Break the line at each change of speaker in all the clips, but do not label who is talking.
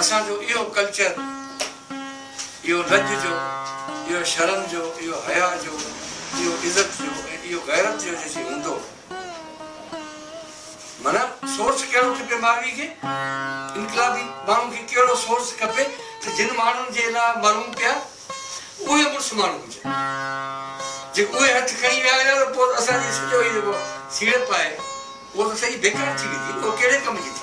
اسان جو اهو ڪلچر، اهو لڄ جو، اهو شرم جو، اهو حياء جو، اهو عزت جو ۽ اهو غيرت جو جيسين هوندو. معنيٰ سورس ڪهڙو کپي ماروي کي؟ انقلابي ماڻهن کي ڪهڙو سورس کپي ته جن ماڻهن جي لاء مرون پيا اهي مڙس ماڻهو هجن. جي اهي هٿ کڻي ويا هجن ته پوء ته اسان جي سڄو هي جيڪو سيڙپ آهي اهو ته سڄي بيڪار ٿي ويندي نه اهو ڪهڙي ڪم جي ٿي؟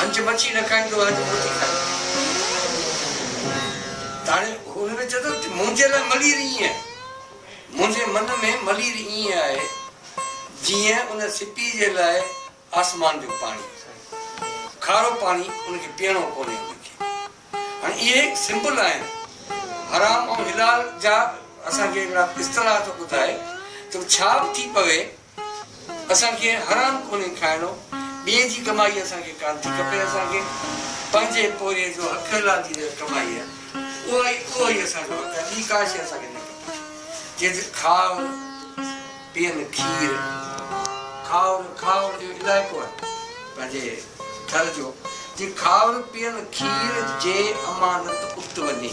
هنچ مچي نه کائيندو آهي ته موتي کائيندو. تاڻي هن کي چئي ٿو ته منهنجي لاء ملير ائين آهي. منهنجي من ۾ ملير ائين آهي جيئن ان سپيء جي لاء آسمان جو پاڻي. کارو پاڻي ان کي پيئڻو ڪونهي هن کي. هاڻي اهي سمبل آهن حرام ۽ حلال جا اسان کي هڪڙا اصطلاح ٿو ٻڌائي ته ڇا به ٿي پوي اسان کي حرام ڪونهي کائڻو، ٻئي جي ڪمائي اسان کي ڪانه ٿي کپي، اسان کي پنهنجي پورهيي جو حق حلال جي جيڪا ڪمائي آهي اها ئي اهو ئي اسان جو حق آهي، ٻي ڪا شيء اسان کي نه کپي، جيئن ته کائو نه پيئن کير، کائو نه کائو جو علائقو آهي پنهنجي ٿر جو، جي کائو نه پيئن کير جي امانت ات وڃي.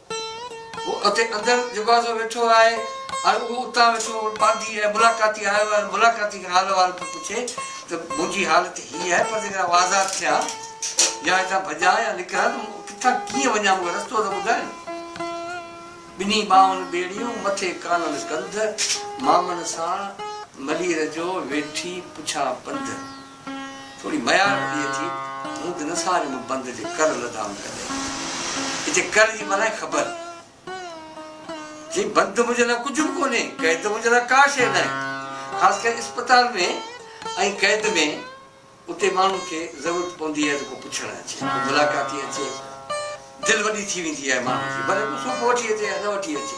هو اتي اندر دروازو ويٺو آهي ۽ اهو اتان ويٺو پانڌي ۽ ملاقاتي آيو آهي ۽ ملاقاتي کان حال احوال پيو پڇي ته منهنجي حالت هيء آهي پر جيڪڏهن آئون آزاد ٿيان يا هتان ڀڄان يا نڪران ته مون ڪٿان ڪيئن وڃان مون کي رستو ته ٻڌاين. ٻنهي ٻانهن ٻيڙيون، مٿي ڪانل ڪنڌ، مامن ساڻ ملير جو ويٺي پڇان پنڌ. ٿوري ميار پيئي ٿي، مون به نه ساري مون بند جي ڪر لڌائون ڪڏهن. اتي ڪر جي معنيٰ آهي خبر. جي بند منهنجي لاء ڪجهه به ڪونهي، قيد منهنجي لاء ڪا شيء ناهي. خاص ڪري اسپتال ۾ ۽ قيد ۾ اتي ماڻهن کي ضرورت پوندي آهي ته ڪو پڇڻ اچي، ڪو ملاقاتي اچي. دل وڏي ٿي ويندي آهي ماڻهن جي، ڀلي ڪو سوڦو وٺي اچي يا نه وٺي اچي.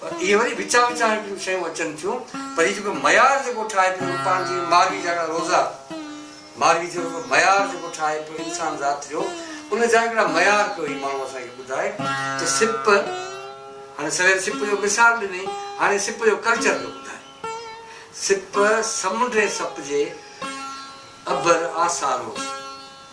پر اهي وري وچان وچان هڪڙيون شيون اچن ٿيون پر هي جيڪو معيار جيڪو ٺاهي پيو پاڻ جي ماروي جا هڪڙا روزا ماروي جو هڪڙو معيار جيڪو ٺاهي پيو انسان ذات جو ان جا هڪڙا معيار پيو هي ماڻهو اسان کي ٻڌائي ته سپ هاڻي سوير سپ جو مثال ڏني هاڻي سپ جو ڪلچر پيو ٻڌائي سپ سمنڊي سپ جي ابر آسا روز.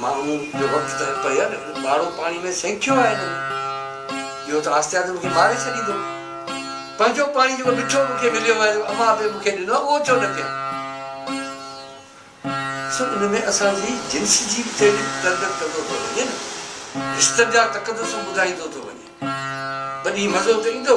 مامو جو وقت ته پيل ٻاڙو پاڻي ۾ سينکيو آهي هن ۾ ٻيو ته آهستي آهستي مون کي ماري ڇڏيندو. پنهنجو پاڻي جيڪو مٺو مون کي مليو آهي جيڪو امان به مون کي ڏنو آهي اهو ڇو نه پيان. ڏسو ان ۾ اسان جي جنس جي به تحريڪ تربيت ڪندو ٿو وڃي نه رشتن جا تقدسون ٻڌائيندو ٿو وڃي. وڏي مزو ته ايندو